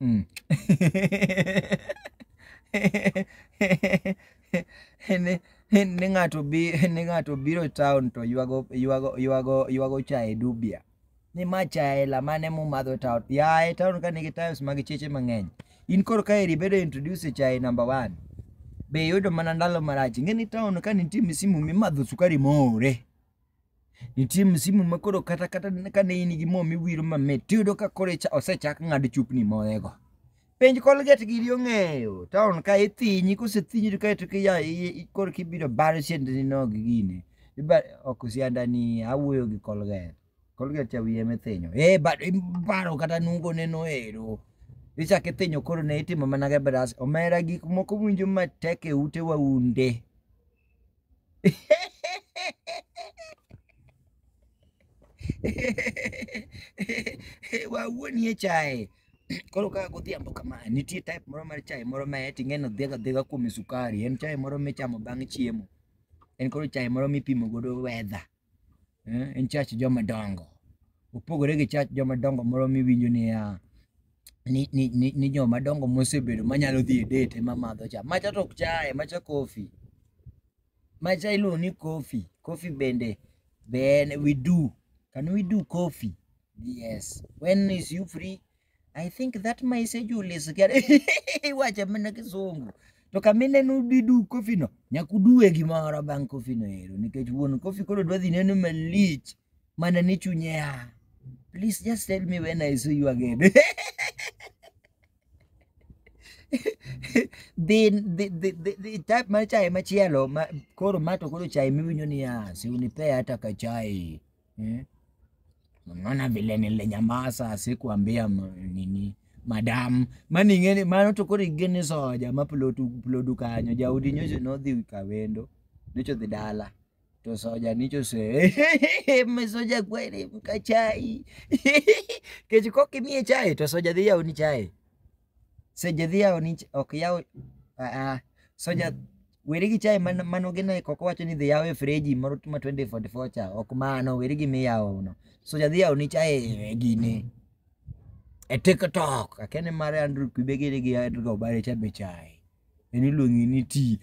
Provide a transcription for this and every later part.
Mm. ni, ni, ni ng'ato bi, ni ng'ato biro town to ywago ywago ywago ywago chae dubia. Ni ma chae la mane mumadho town. Ya e town ka nigi tiles mag cheche mang'eny. In koro ka eri bedo introduce chae number one. Be yudo mana ndalo marach. Ng'e ni town ka nitie misimu mimadho sukari more. nitie msimu ma koro kata kata ka ne in gi mo miwiro mamit tiyudo ka koro icha- osechak ng'ad chupni moyego penj kolget giri ong'eyo taon ka ithinyi kosethinyi to kaeto kiya koro kibiro baro siendani nog gine Iba- ok siandani awuoyo gi kolget kolget cha wiye mithinyo e bado ibaro kata nungo neno ero ichak ithinyo koro ne itimo mana ge bras omera gik moko winjo matek e ute waunde wawuo nie chae koro kaka godhiambo kama nitie type moro mar chae moro ma eti ng'eno dhiega dhiega kuom sukari en chae moro michamo bang' chiemo en koro chae moro mipimo godo weather eh, en chach joma dongo opogore gi chach joma dongo moro miwinjo niya ni, ni, ni, ni joma dongo mosebedo manyalo dhi e date ema madho cha macha to ok chaye macha kofi macha iluongo ni kofi kofi bende ben we do can we do coffee yes when is you free I think that my schedule is getting iwacho mana kisungu to kamineno didu kofino nyakuduwe gimoro bang' kofino ero nikech wuon kofi koro dwa dhi neno malich mana ni chunye ya please just tell me when I see you again the, the, the, the, the type mar chai machielo ma, koro mato koro chai miwinjo niya siunipea hata ka chai eh? Unaona vile nilinyamaza sikuambia ma- nini madam mani ngene mano to koro igene soja ma plodu plodu kanyo jaudi nyocho nodhi kawendo nyocho dhi dala to soja nicho se me soja kweli mkachai kech kokimie chai to soja dhi yauni chai Seche dhi yawo ni ok yaw ah, soja weri gi chai man- mano gin eko ok wacho ni dhi yaw e freji moro ma 2044 cha ok mano weri gi miyawo no soja dhi yawo ni chai e gine e TikTok akene mare Andrew Kibegere gi Edgar Obare cha be chai en iluongi ni ti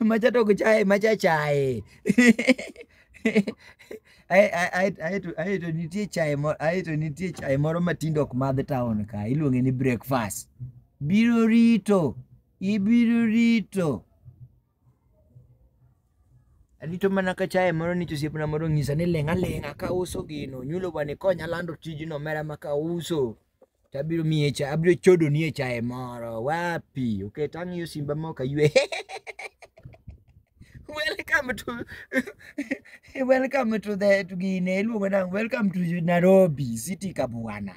macha to ok chaye macha chaye Ae- ae- ae- ae to- ae to nitie chaye mo- ae to nitie chaye moro matindo ok madh town ka iluonge ni breakfast biro rito ibiro rito Arito mana ka chaye moro ni osiepna moro ng'isa ni ling' aling'a ka uso gino nyulo bani konya lando tijno mera ma ka uso to abiro miye cha abiro chodo ni e chaye moro wapi okay to ang'iyo simba ma ok aywe welcome to welcome to the to gine iluongo nang' welcome to Nairobi city kabwana